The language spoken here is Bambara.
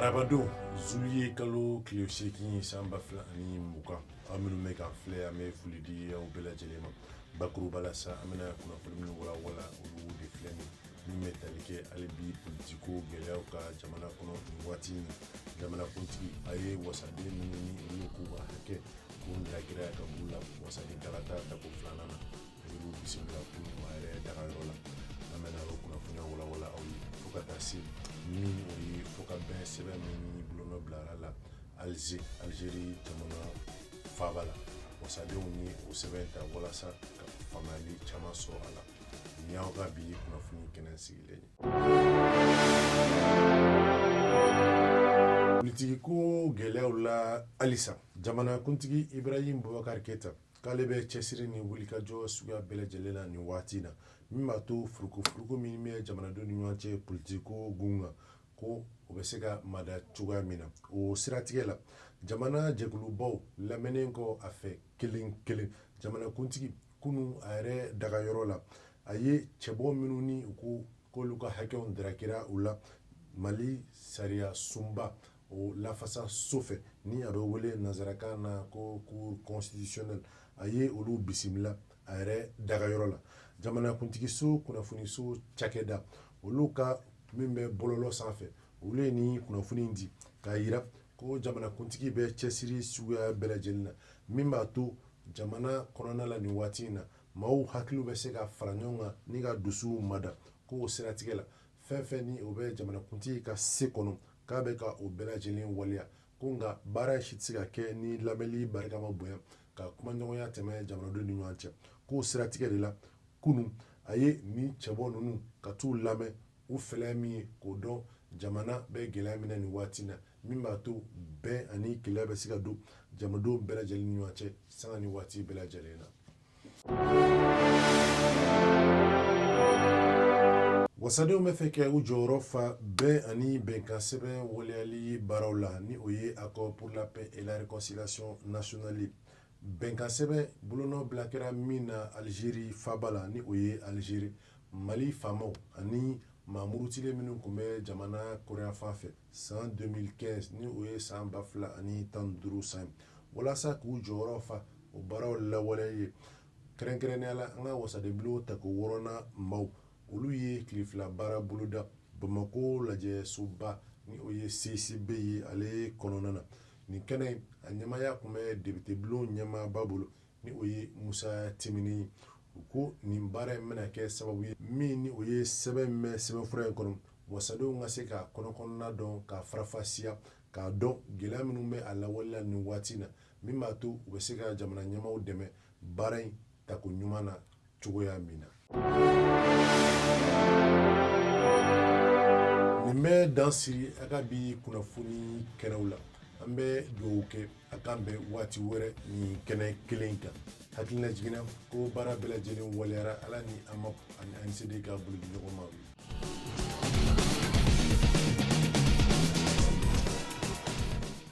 Arabadon zuliyekalo tile seegin san ba fila ani mugan aw minnu bɛ k'an filɛ an bɛ foli di aw bɛɛ lajɛlen ma bakuruba la sa an bɛna kunnafoni minnu walawala olu de filɛ nin min bɛ tali kɛ hali bi politiko gɛlɛyaw kan jamana kɔnɔ nin waati in jamanakuntigi a ye wasaden minnu ni olu k'u ka hakɛ tun darakira ka b'u la wasaden kalata tako filanan na Olu bisimila kunun a yɛrɛ dagayɔrɔ la an bɛna o kunnafoniw walawala aw ye fo ka taa se ni o ye fɔkabɛn sɛbɛn min bolonɔ bilara la alize alizeri jamana faaba la wasadenw ni o sɛbɛn ta walasa ka faamuyali caman sɔrɔ a la nin y'aw ka bi kunnafoni kɛnɛ sigilen ye politikiko gɛlɛyaw la halisa jamanakuntigi ibrahim bubakari keyita k'ale bɛ cɛsiri ni wulikajɔ suguya bɛɛ lajɛlen na nin waati na min b'a to furukufuruku min bɛ jamanadenw ni ɲɔgɔn cɛ politikiko gun kan ko o bɛ se ka mada cogoya min na o siratigɛ la jamana jɛkulubaw lamɛnnen kɔ a fɛ kelen kelen jamanakuntigi kunun a yɛrɛ dagayɔrɔ la a ye cɛbɔ minnu ni u ko k'olu ka hakɛw darakira u la mali sariya sunba o lafasa so fɛ ni a bɛ wele nansarakan na ko cour constitutionnelle a ye olu bisimila a yɛrɛ dagayɔrɔ la jamanakuntigiso kunnafoniso cakɛda olu ka min bɛ bɔlɔlɔ sanfɛ olu ye nin kunnafoni in di k'a yira ko jamanakuntigi bɛ cɛsiri suguya bɛɛ lajɛlen na min b'a to jamana kɔnɔna la nin waati in na maaw hakiliw bɛ se ka fara ɲɔgɔn kan ni ka dusuw mada ko o siratigɛ la fɛn fɛn ni o bɛ jamanakuntigi ka se kɔnɔ k'a bɛ ka o bɛɛ lajɛlen waleya ko nka baara si tɛ se ka kɛ ni lamɛnli barika ma bonya ka kumaɲɔgɔnya tɛmɛ jamanadenw ni ɲɔgɔn cɛ k'o siratigɛ de la kunun a ye ni cɛbɔ ninnu ka t'u lamɛn u fɛlɛ min ye k'o dɔn jamana bɛ gɛlɛya min na nin waati na min b'a to bɛn ani kelenya bɛ se ka don jamanadenw bɛɛ lajɛlen ni ɲɔgɔn cɛ sanga ni waati bɛɛ lajɛlen na Wasadenw bɛ fɛ kɛ u jɔyɔrɔ fa bɛn ani bɛnkan sɛbɛn waleyali baaraw la ni o ye accord pour la paix et la réconciliation nationale bɛnkan sɛbɛn bolonɔbila kɛra min na alizeri faaba la ni o ye alizeri mali faamaw ani maa murutilen minnu tun bɛ jamana kɔrɔnyanfan fɛ san 2015 ni o ye san ba fila ani tan duuru san walasa k'u jɔyɔrɔ fa o baaraw lawaleya kɛrɛnkɛrɛnnenya la an ka wasadenbulon tako wɔɔrɔnan maaw olu ye tile fila baara boloda bamakɔ lajɛsoba ni o ye CICB ye ale kɔnɔna na nin kɛnɛ a ɲɛmaaya tun bɛ depitebulon ɲɛmaaba bolo ni o ye musa timbinɛ ye u ko nin baara in bɛna kɛ sababu ye min ni o ye sɛbɛn min bɛ sɛbɛnfura in kɔnɔ wasadenw ka se k'a kɔnɔkɔnɔna dɔn k'a faranfasiya k'a dɔn gɛlɛya minnu bɛ a lawale la nin waati na min b'a to u bɛ se ka jamana ɲɛmaaw dɛmɛ baara in tako ɲuman na cogoya min na nin bɛ dan siri an ka bi kunnafoni kɛnɛw la an bɛ dugawu kɛ an ka bɛn waati wɛrɛ nin kɛnɛ kelen kan hakililajigin na ko baara bɛɛ lajɛlen waleyara ala ni amapu ani ansede ka bolodiɲɔgɔnma